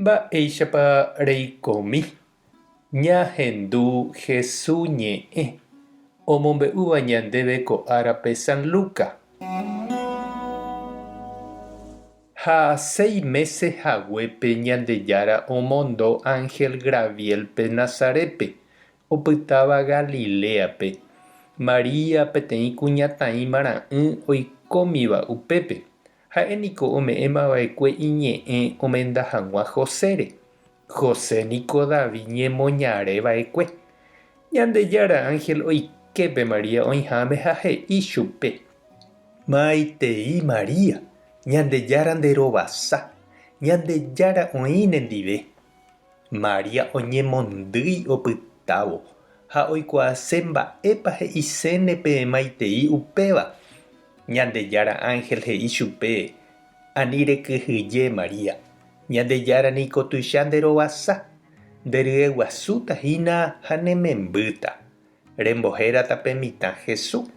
Mba'éichapa reikomi ñahendu Hesu ñe'ẽ omombe'úva ñandéve ko árape San Luca? Ha seis mése haguépe Ñandejára omondo ánhel Graviélpe Nazarétpe, opytáva Galiléape, María peteĩ kuñataĩmara'ỹ oikómiva upépe, Ha'e niko ome'ẽma va'ekue iñe'ẽ omenda hag̃ua Josére. José niko David ñemoñare va'ekue. Ñandejára ánhel oike pe María oĩháme ha he'i chupe, Maitei María, Ñandejára nderovasa, Ñandejára oĩ nendive. María oñemondýi opytávo ha oikuaase mba'épa he'iséne peẽmaitei upéva. Ñandejára ánhel he'i chupe, Ani rekyhyje, María, Ñandejára niko tuicha nderovasa, nderyeguasúta hína ha nemembýta. Rembohérata pe mitã Hesu,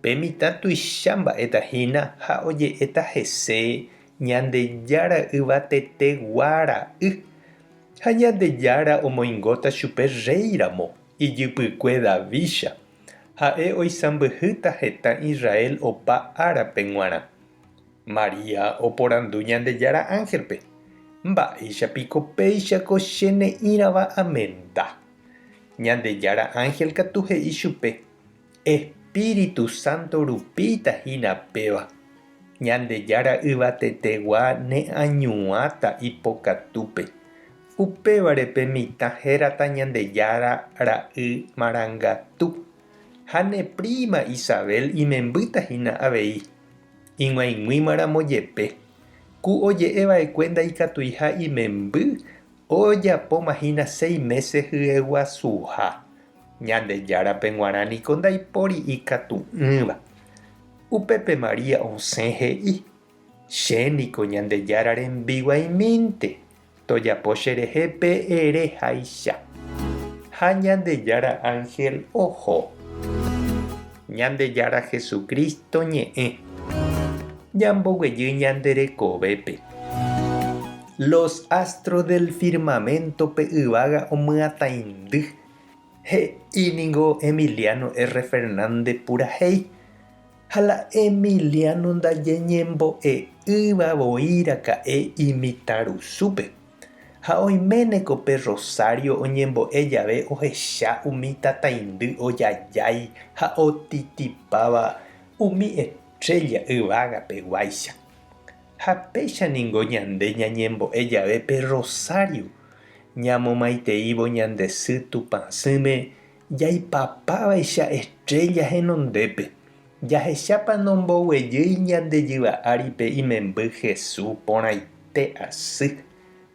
pe mitã tuicha mba'éta hína ha oje'éta hese Ñandejára yvatete gua ra'y. Ha Ñandejára omoingóta chupe rréi ramo, ijypykue Davícha. Ha'e oisãmbyhýta hetã Israel opa árape g̃uarã. María oporandu Ñandejára ángelpe, Mba'éicha piko péicha ko che ne'ĩrava amenda? Ñandejára ánhel katu he'i chupe, Espíritu Santo rupíita hína péva. Ñandejára Yvatetegua neañuãta ipokatúpe. Upévare pe mitã hérata Ñandejára ra'y marangatu. Ha ne príma Isabel imembýta hína avei. Ig̃uaig̃uímaramo jepe, ku oje'e va'ekue ndaikatuiha imemby Ojapóma hína seis mése hyeguasuha, Ñandejárape g̃uarã niko ndaipóri ikatu'ỹva. Upépe María osẽ he'i, Che niko Ñandejára rembiguaimínte, tojapo cherehe pe ere háicha. Ha Ñandejára ánhel oho. Ñandejára Jesucristo ñe'ẽ, ñamboguejy ñande rekovépe. Los astros del firmamento pe yvága omyatãindy, he'i ningo Emiliano R. Fernández purahéi. Ha la Emiliano ndajeñembo'e'ỹva voi raka'e imitãrusúpe. Ha oiméne ko pe rrosário oñembo'e jave ohecha umi tataindy ojajái ha otitipáva umi estrélla yvagapeguáicha. Ha péicha ningo ñande ñañembo'e jave pe rrosário, ñamomaiteívo ñande sy Tupãsỹme Jaipapávaicha estrélla henondépe, jahechápa nomboguejýi ñande jyva áripe imemby Hesu porãite asy,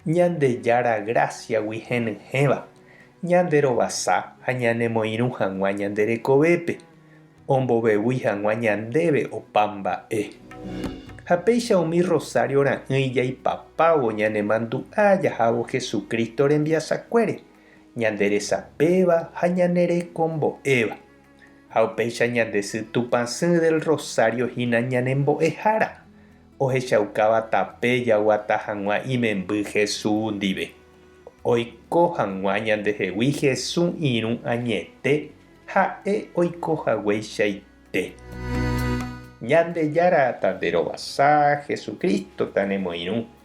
Ñandejára grásiagui henyhẽva, ñanderovasa ha ñanemoirũ hag̃ua ñande rekovépe, ombovevúi hag̃ua ñandéve opa mba'e. Ha péicha umi rosario ra'ỹi jaipapávo ñanemandu'a jahávo Jesucristo rembiasakuére. ñande resapéva ha ñane rekombo'éva, ha upéicha ñande sy Tupã Sỹ del Rosario hína ñane mbo'ehára, ohechaukáva tape jaguata hag̃ua imemby Jesũ ndive, oiko hag̃ua ñandehegui Jesũ irũ añete ha'e oiko hagueichaite. Ñandejára ta nde rovasa, Jesucristo ta nemoirũ.